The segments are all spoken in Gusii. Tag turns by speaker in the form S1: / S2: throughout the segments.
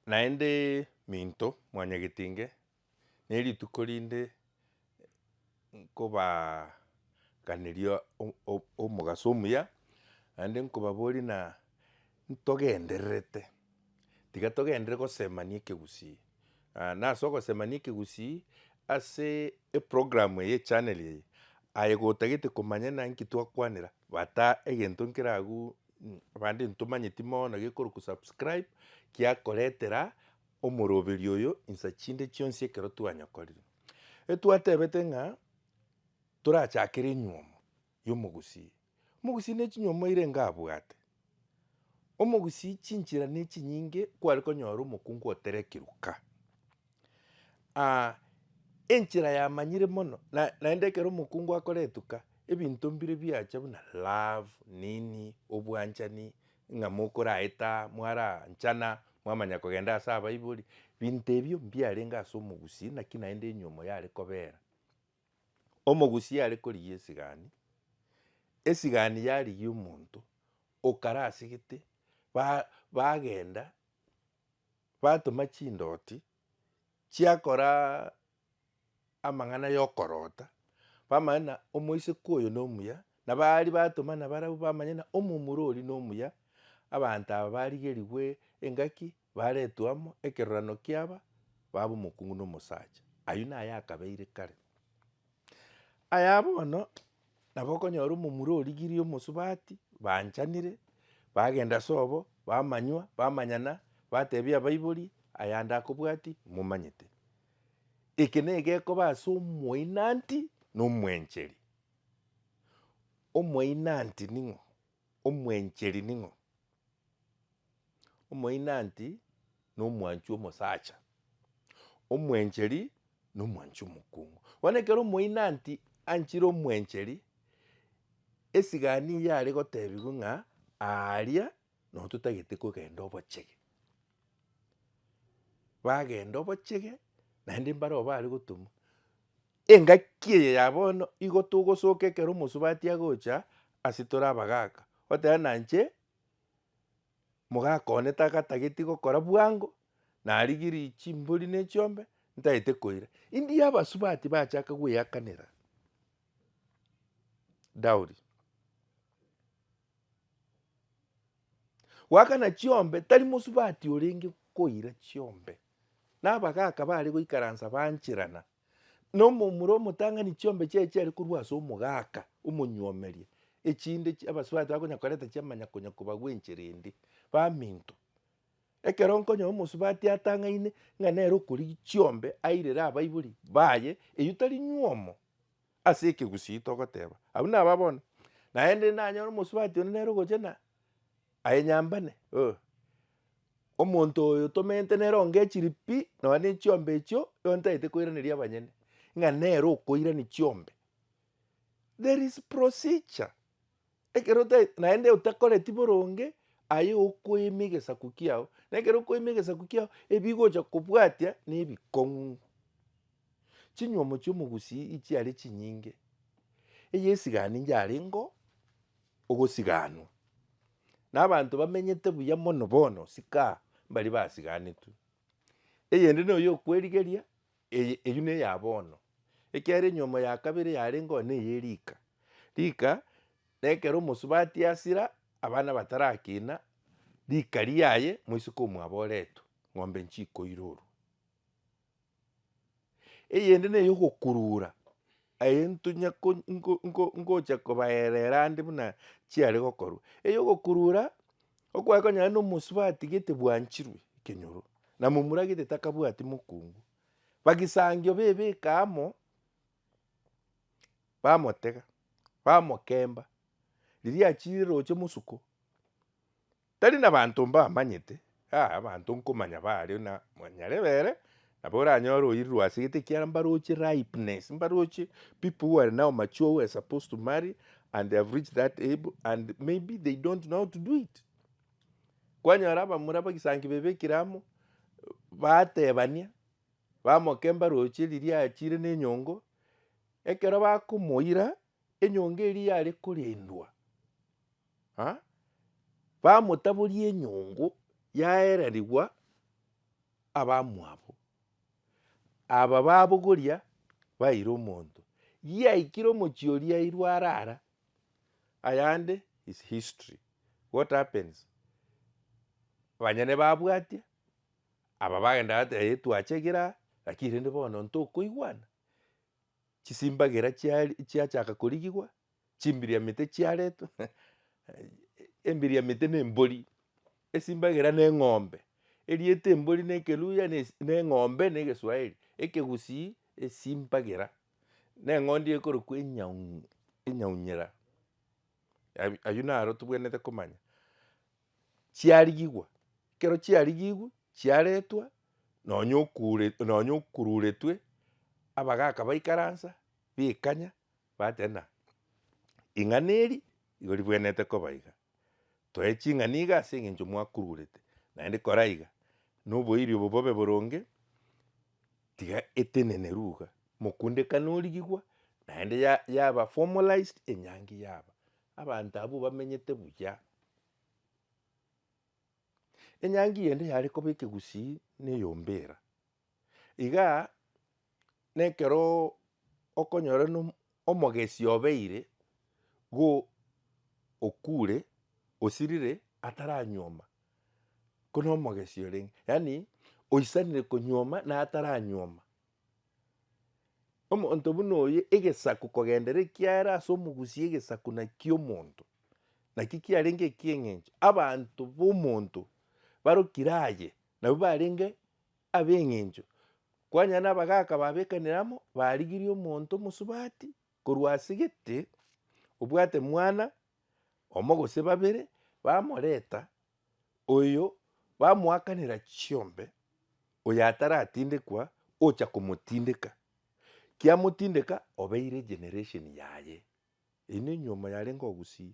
S1: Naende minto mwanyagete inge, nerituko rinde nkobaganeria o- o- omogaso omuya, naende nkobaboria ng'a ntogendererete, tiga togenderere gosemania ekegusii. na ase ogosemania ekegusii ase eprogramu eye echaneli eye, aye gotagete komanya naki twakwanera, bata egento nkere agwo Abande ntomanyeti mono gekorokwa subscribe giakoretera omoroberi oyo insa chinde chionsi ekero twanyokorire. Etwatebete ng'a torachakere enyuomo y'omogusii. Omogusii ne chinyuomo airenge abwate. Omogusii chinchera ne chinyinge kware konyora omokungu oterekiruka. enchera yamanyire mono na naende ekero omokungu akora etuka, ebinto mbire biacha buna love nini, obwanchani, ng'a mokoraeta, mwaranchana, mwamanya kogenda ase abaibori, binto ebio mbiarenge ase omogusii naki naende enyomo yare kobera. Omogusii yare korigia esigani, esigani yarigia omonto, okarasigete, ba- bagenda. batoma chindoti chiakora amang'ana yokorota, bamanye ng'a omoiseke oyo nomuya, nabo aria batoma nabarabwo bamanye ng'a omomura oria nomuya, abanto aba barigerigwe engaki, baretwe amo, ekerorano kiaba, baba omokungu na omosacha. Ayio naye akabeire kare. Aya bono nabo okonyora omomura origirie omosubati, baachanire, bagenda ase obo, bamanywa, bamanyana, batebia abaibori, ayande akobwati, momanyete. Eke nigo gekoba ase omoinanti na omwencheri. Omoinanti ning'o? Omwencheri ning'o? Omoinanti nomwanchi omosacha. Omwencheri nomwanchi omokungu. Bono ekero omoinanti anchire omwencheri, esigani eyio are gotebigwa ng'a aaria nabo totagete kogenda obochege. Bagenda obochege naende mbareo bare gotumwa. Engaki eye ya bono igo togosoka ekero omosubati agocha ase tore abagaaka, oteba nainche mogaka one tagatageti gokora bwango, narigirie chimbori ne chiombe, ntagete koira. India abasubati bachaka gweakanera dowry. Goakana chiombe tari mosubati orenge koira chiombe, na abagaaka bare goikaransa bancherana. na omomura omotang'ani chiombe chiaye chiare korwa ase omogaka omonyuomeria, echinde chi abasubati bakonya koreta chiamanya konya kobagwa enchera ende. Baminto, ekero nkonyoa omosubati atang'aine ng'a nere okorigia chiombe airere abaibori baye, eyio tari nyuomo. Ase ekegusii togoteba, Abwo naba bono, naende nanyore omosubati onde nere ogocha na aye nyambane, oh, omonto oyo tomenyete nere onge chiri pi, nonya ne chiombe echio, igo ntagete koiraneria abanyene, ng'a nere okoirani chiombe. There is procedure. Ekero otae, naende otakoreti boronge, aye okoima egesaku kiao, na ekero okoima egesaku kiao, ebigocha kobwatia nebikong'u. Chinywomo chi'omogusii echiare chinyinge, eye esigani inche arengeo ogosiganwa, na abanto bamenyete buya mono bono, sikaha, mbaria basiganetwe. Eyende noyo okwerigeria, Eye eyio neya bono. Ekiagera enyomo ya kabere yarengeo neye rika. Rika, nekero omosubati asira, abana batarakina, rika riaye moiseke omwaboretwe, ng'ombe nchikoirorwa. Eyende neyogokurura, Aye ntunya ngocha kobaereera ande buna chiare gokorwa. Eyo ogokurura okwaye konya aye nomosuba atigete bwanchirwe ekenyoro, na momura gete takabwati mokungu. Bagisangio bebeka amo, bamotega, bamokemba. Riria achirire oche mosuko, Tari nabaanto mbamanyete, aa, abanto nkomanya baario na monyare bere, nabo oranyore oirwe ase egete ekiara mbaroche ripeness, mbaroche people who are now mature who were supposed to marry and they have reached that able and maybe they don't know how to do it. Kwanyora abamura abagisangi bebekire amo, batebania, bamoke mbaroche riria aachire na enyongo, ekero bakomoira, enyongo eria yare korendwa. Ha? Bamotaboria enyongo yaerarigwa abamwabo. Aba babogoria baira omonto. Giaikire omochie oria airwe arara, ayande is history. What happens? Banyene babwatia, aba bagenda bateba ee twachegire aa, lakini rende bono ntokoigwana, chisimbagera chiari chiachaka korigigwa, Chimbiriamete chiaretwe, embiriamete na embori, esimbagera na eng'ombe. Erieta embori na ekeluhya na na eng'ombe na egeswahili, ekegusii esimbagera, na eng'ondi ekorokwa enyau enyaunyera. Abi- aywo naro tobwenerete komanya, chiarigigwa, ekero chiarigigwe, chiaretwa nonya okure nonya okururetwe, abagaka baikaransa, baikanya. Bateba, Ing'ana eri igo ribwenerete koba iga, toe ching'ana iga ase engencho mwakururete, naende kora iga, na oboiri obo bobe boronge, tiga eteneneru iga, mokundekane origigwa, naende ya yaba formalized enyangi yaba, abanto abwo bamenyete buya. Enyangi eye ende yare koba ekegusii na eyombera. Iga nekero okonyora no omogesi obeire go okure, osirire ataranyuoma ko no omogesi orenge, yaani oisanire konyuoma na ataranyuoma. Omonto buna oye egesaku kogendera ekiara ase omogusi egesaku nakio omonto, nakio kiarenge ekieng'encho abanto ba omonto barokire aye nabwo barenge. ab'engencho, kwanyora nabagaaka babekanire amo, barigirie omonto omosubati korwa ase gete, obwate mwana omo gose babere, bamoreta, oyo bamoakanera chiombe, oyo ataratindekwa ocha komotindeka, kiamotindeka obeire generation yaye. Eyio ne enyiomo yarenge ogusie.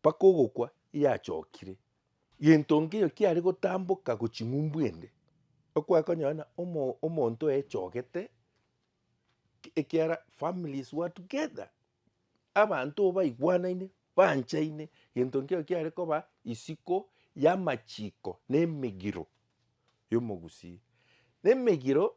S1: Mpaka ogokwa yachokire. Gento nkeiyo kiare gotamboka gochia ng'umbu ende, okware konyora omonto oyechogete, ekiara families were together, abanto baigwanaine, banchaine, gento nkeiyo kiare koba isiko yamachiko na emegiro yomogusii. Na emegiro.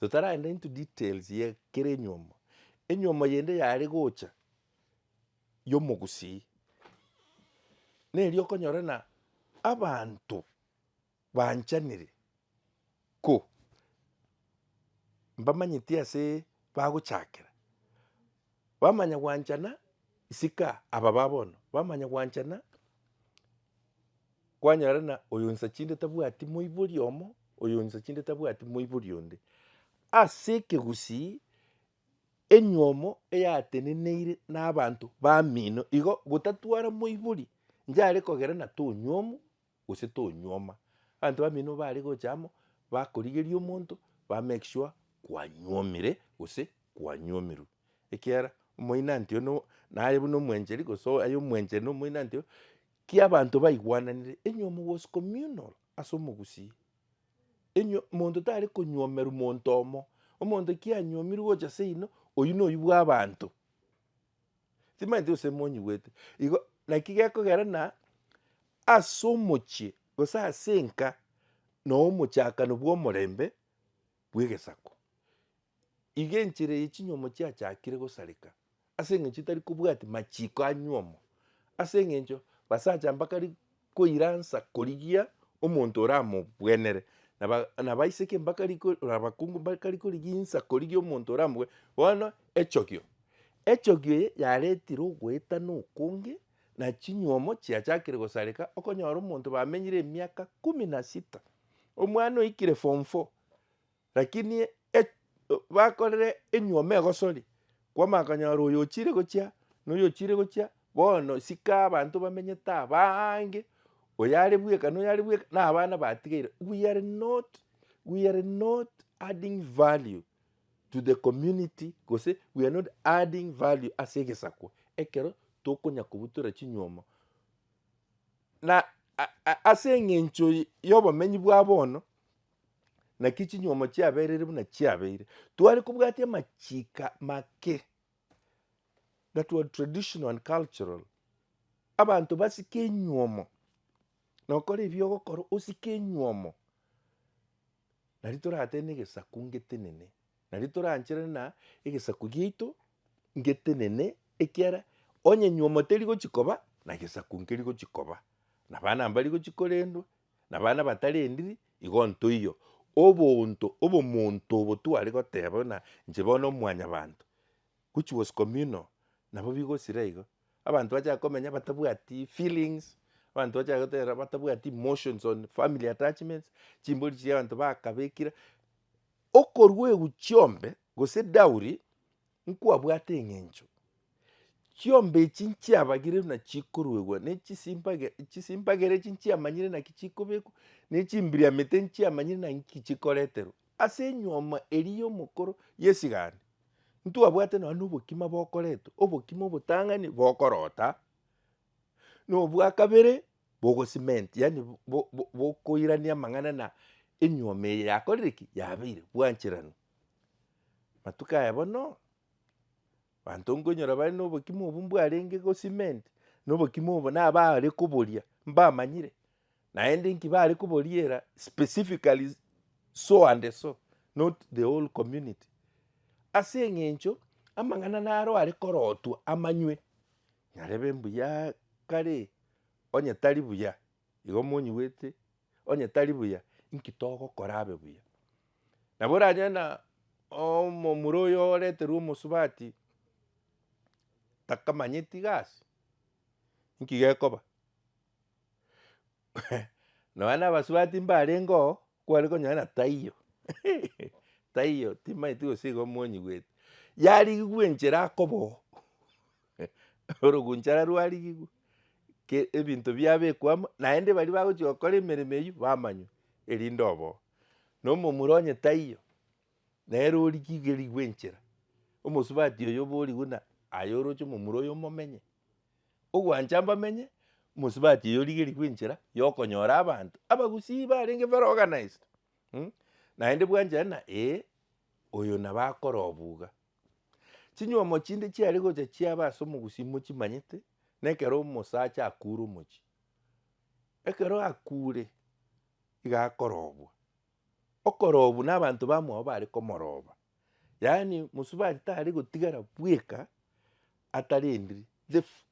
S1: Totaragenda into details ye kera enywomo, enywomo yende yare gocha y'omogusii, neria okonyora na abanto banchanire ko mbamanyeti ase bagochakera. Bamanya gwanchana isiko aba ba bono, bamanya gwanchana kwanyora na oyo insa chinde tabwati moibori omo, oyo insa chinde tabwati moibori onde. Ase ekegusii enywomo eyateneneire na abanto bamino igo gotatwara moibori nchare kogera na tonywomu gose tonyuoma. Abanto bamino bare gocha amo, bakorigeria omonto, ba make sure kwanyuomire gose kwanyuomirwe. Ekiagera omoinanti oyio naye buna omwencheri gose aye omwencheri na omoinanti oyio, ki abanto baigwananire, enyuomo was communal ase omogusii. Enyuo monto tare konyuomerwa monto omo, omonto ki anyuomirwe gocha seino, oyio noyio bwa abanto. Timanyeti gose monyigwete igo naki gekogera na ase omochie gose ase enka na omochakano bwa omorembe bwa egesaku. Iga enchera eye chinyomo chiachakire gosareka ase eng'encho tari kobwati machiko a nyuomo ase eng'encho basacha mbakari koiransa korigia omonto oramogwenere, na ba- na baiseke mbakari ko- na abakungu mbakari korigia insa korigia omonto oramogwe. Bono echogio, echogio eye yaretire ogoetana okonge, na chinywomo chiachakire gosareka, okonyora omonto bamenyire emiaka kumi na sita, omwana oikire form four, Lakini e-, bakorire enyuoma egosori, kwamanya konyora oyo ochire gochia, na oyo ochire gochia, bono sika abanto bamenyete abaange, oyo are bweka na oyo are bweka, na abana batigeire. We are not, we are not adding value to the community gose we are not adding value ase egesakwa ekero tokonya kobutora chinyuomo. Na a-a ase eng'encho y- yobomenyi bwa bono, naki chinyomo chiaberire buna chiabeire. Tware kobwatia amachiko make that were traditional and cultural. Abanto basike enyuomo nokora ebio ogokora osike enyuomo nari toratee na egesaku ngetenene nari toranchere na egesaku giaito ngetenene ekiara onye enyuomo teri gochikoba na gesaku nkeri gochikoba na abana mbari gochi korendwa Nabana batari endiri igo ntoiyo obonto obomonto obo tware goteba buna inche bono omwanyabanto which was communal nabo bigosira igo. Abanto bachaka komenya batabwati feelings, abanto bachaka gotera batabwati emotions on family attachments, chimbori chiabanto bakabekire, okorwa eguchiombe gose dowry Nkwabwate eng'encho chiombe echi nchiabagire buna chikoruegwa, ne chisimbage chisimbagera echi nchiamanyire naki chikobekwa, ne chimbiriamete nchiamanyire naki chikoreterwa ase enyuoma eria y'omokoro y'esigani. Ntwabwate nonya na obokima bokoretwa, obokima obotang'ani bokorota, na obwa kabere bogocement yaani bo- bo- bo- bokoirania amang'ana na enyuoma eye yakorire ki? yabeire bwancheranu. Matuko aya bono, abanto nkoinyora bare na obokima obwo mbwarenge go cement, na obokima obo na abare koboria mbamanyire, naende nki bare koboriera specifically so and so not the whole community. Ase eng'encho amang'ana naro are korotwa amanywe, nyarebe mbuyaaaa kare onye tari buya igo monyigwete. onye tari buya, inki togokora abe buya? Nabo oranyore na omomura oyo oreterwe omosubati, takamanyeti gasi, inki gekoba? nonya na abasubati mbarengeo kware konyora ng'a taiyo taiyo timanyeti gose igo omonyigweti, yarigigwe enchera akoba oo. Orogunchara rwarigigwe, ke ebinto biabekwa amo, naende baria bagochia gokora emeremo eyio bamanywe, erinde oboo. Na omomura onye taiyo, nere origigerigwe enchera, omosubati oyo oborigwe na aye oroche omomura oyo omomenye. Ogwancha mbamenye, omosubati oyo origerigwe enchera ya okonyora abanto, abagusii barenge very organized naende bwanchare na ee, oyo nabo akore obwo iga. Chinyuomo chinde chiare gocha chiabe ase omogusii mochimanyete, na ekero omosacha akure omochie. Ekero akure, iga akorobwa, okorobwa na abanto bamwabo bare komoroba, yaani mosubati tare gotigara bweka atarendiri, the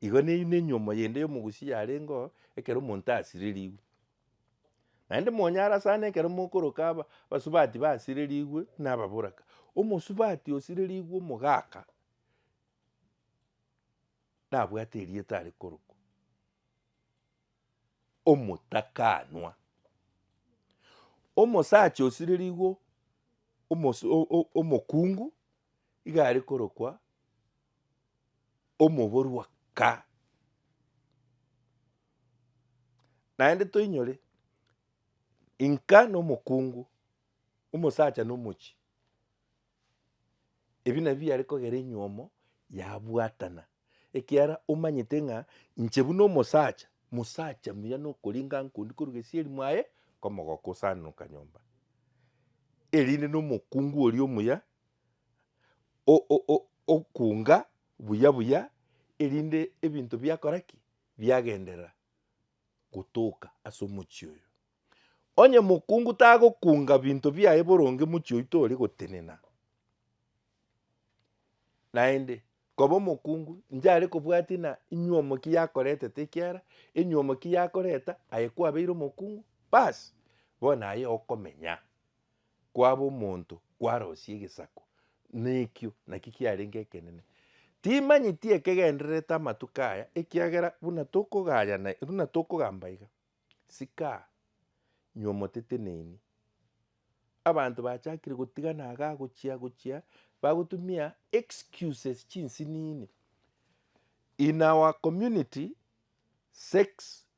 S1: Igo neyio nenyomo yende y'omogusi yarengeo ekero omonto asirerigwe. Naende monyara sana ekero mokoroka aba abasubati basirerigwe na ababoraka. Omosubati osirerigwe omogaka nabwate erieta are korokwa omotakanwa. Omosacha osirerigwe omosu o- o- omokungu iga are korokwa omoborua ka. Naende toinyore inka nomokungu, omosacha nomochi, ebi nabio biare kogera enyiomo yabwatana, ekiara omanyete ng'a inche buna omosacha, mosacha muya nokoringa nkondi korwa gesieri mwaye komogoka osananoka nyomba, erinde nomokungu oria omuya. okuunga buya buya, erinde ebinto biakora ki? Biagenderera gotoka ase omochie oyo. Onye mokungu tagokunga binto biaye boronge mochie oyio tore gotenena, naende koba omokungu nchare kobwatia ng'a enywomo ki yakoretete ekiara, enywomo ki yakoreta aye kwabeire omokungu, bas bono aye okomenya. kwaba omonto kwarosie egesaku, na ekio nakio kiarenge ekenene. Timanyeti ekegendererete amatuko aya, ekiagera buna tokogaya na buna tokogamba iga, Sikaa, nywa omotete neni. Abanto bachakire gotigana iga gochia gochia bagotumia excuses chinsinini. In our community, sex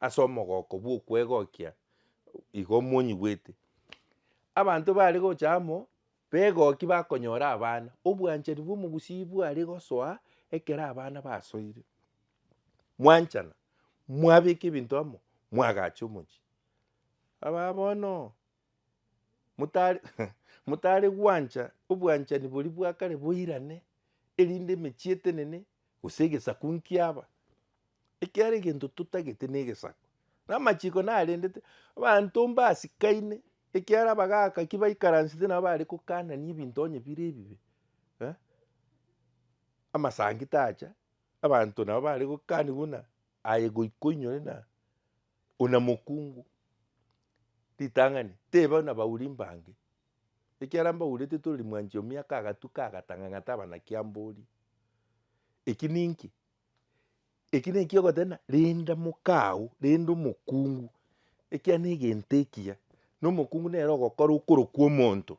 S1: ase omogoko bw'okwegokia igo monyigwete. Abanto bare gocha amo begoki bakonyora abana, obwanchani bw'omogusii bware gosoa ekero abana basoire. Mwanchana, mwabeka ebinto amo, mwagacha omochie. Abaa bono. motare gwancha obwanchani boria bwa kare boirane, erinde emechie etenene, gose egesaku nkiaba. Ekiagera egento totagete na egesaku. Na amachiko narendete, abanto mbasikaine, ekiagera abagaka ki baikaransete nabo bare kokanania ebinto onye bire ebibe. Amasangi tacha, abanto nabo bare gokaniwa buna aye goika oinyore na Ona mokungu, ritang'ani, teba nabauri mbange, ekiara mbaurete toreri mwanchi o miaka agatuka agatanga ng'a taba naki amborie. Eki ninki? Eki neki ogoteba renda mokao, renda omokungu, ekia negento ekiya, na omokungu nere ogokora okorokwa omonto.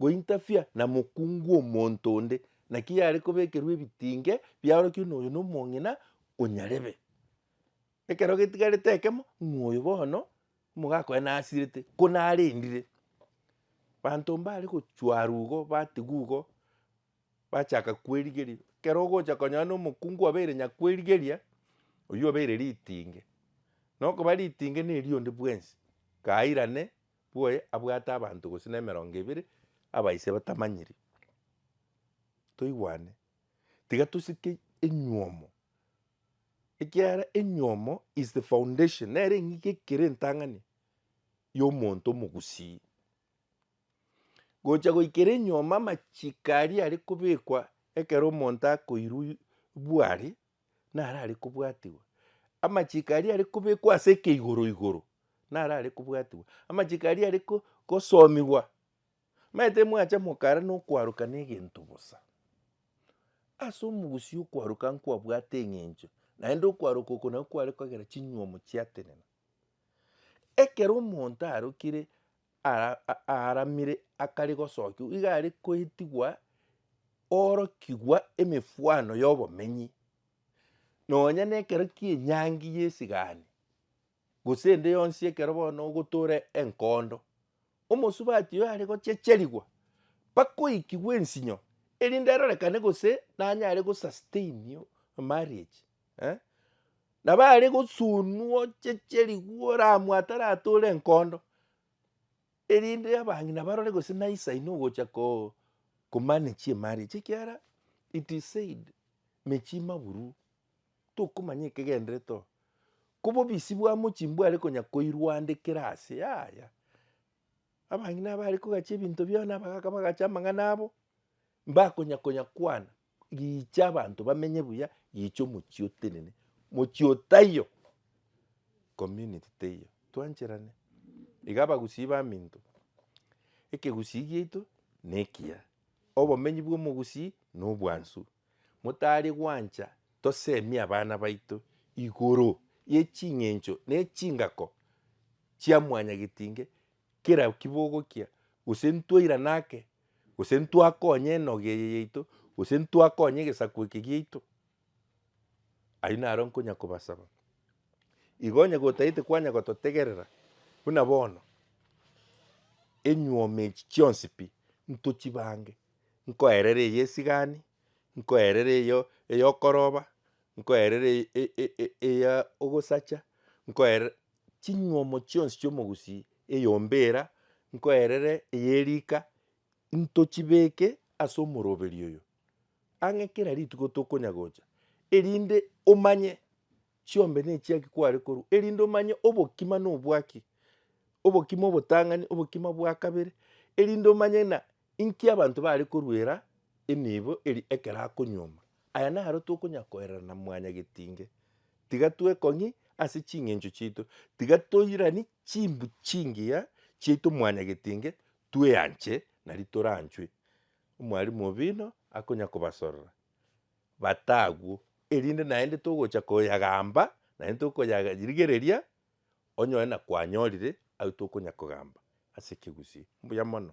S1: Gointafia na mokungu omonto onde, naki yare kobekerwa ebitinge biaorokire noyo nomong'ina o nyarebe. Ekero getigarete ekemo, ng'a oyo bono omogaaka oye nasirete, ko narendire. Banto mbare gochwara igo batigwa igo, bachaka kwerigeria. Ekero ogocha konyora na omokungu obeire nyakwerigeria, oyio obeire ritinge. Nokoba ritinge neri onde bwensi, kairane. bwoye abwate abanto gose na emerongo ebere aba ise batamanyiri. Toigwane tiga tosike enyuomo ekiagera enyuomo is the foundation nere eng'iki ekere entang'ani ya omonto omogusii. Gocha goikera enyuomo amachiko aria are kobekwa ekero omonto akoirwa bware naro are kobwatigwa, amachiko aria are kobekwa ase ekeigoro igoro naro are kobwatigwa, amachiko aria are ko gosomigwa omanyete mwacha mokara na okwaroka na egento bosa. Ase omogusii okwaroka nkwabwate eng'encho, naende okwaroka oko nako kware kogera chinywomo chiatenena. Ekero omonto arokire aaramire akare gosokiwa iga are koetigwa orokigwa emefwano ya obomenyi. Nonya na ekero kia enyangi ya esigani gose ende yonsi ekero bono ogotoora enkondo, omosubati oyo are gochecherigwa mpaka oikigwe ensinyo erinde arorekane gose nanyare go sustain marriage. Nabo are gosuunwa ocheche rikuo oramwe ataratore enkondo, erinde abang'ina barore gose naisa inwe ogocha ko manage emari echi ekiagera it is said mechie imaburu tokomanya ekegenderete oo. Ko obobisi bwa mochie mbware konya koirwandekera ase yaya. Abang'ina abare kogachia ebinto biao nabagaka bagacha amang'ana abo, mbakonya konya kwana. gicha abanto bamenye buya, gicha omochie otenene, mochie oo taiyo, community teiyo, twancherane. Iga abagusii baminto, ekegusii giaito na ekiya, obomenyi bwa omogusii na obwansu, motari gwancha tosemie abana baito igoro ye ching'encho na echingako chia mwanyagetinge kera kibogokia, gose ntwairane ake, gose ntwakonye enoga eye yaito, gose ntwakonye egesaku eke giaito, ayio naro nkonya kobasaba. Igo onye gotagete kwanya gototegerera, buna bono, enyuoma echi chionsi pi ntochibange, nkoerera eye esigani, nkoerera eyo eyokoroba, nkoerera e- e- e- eya ogosacha, nkoerera Chinywomo chionsi chi'omogusii eyombera nkoerere eye rika ntochibeke ase omoroberi oyo, ang'e kera rituko tokonya gocha, erinde omanye chiombe nechiaki kware korwa, erinde omanye obokima nobwaki, obokima obotang'ani, obokima bwa kabere, erinde omanye ng'a Inki abanto bare koruera enibo eri ekero akonyuoma? Aya naro tokonya koerana na mwanyagetinge. Tiga twekong'i ase ching'encho chiaito. Tiga toirani chimbu chingiya chiaito mwanyagetinge, tweanche nari toranchwe. Omwalimu obino akonya kobasorora bata agwo, erinde naende togocha koyagamba naende tokoyarigereria onyore na kwanyorire ayio tokonya kogamba ase ekegusii. Mbuya mono.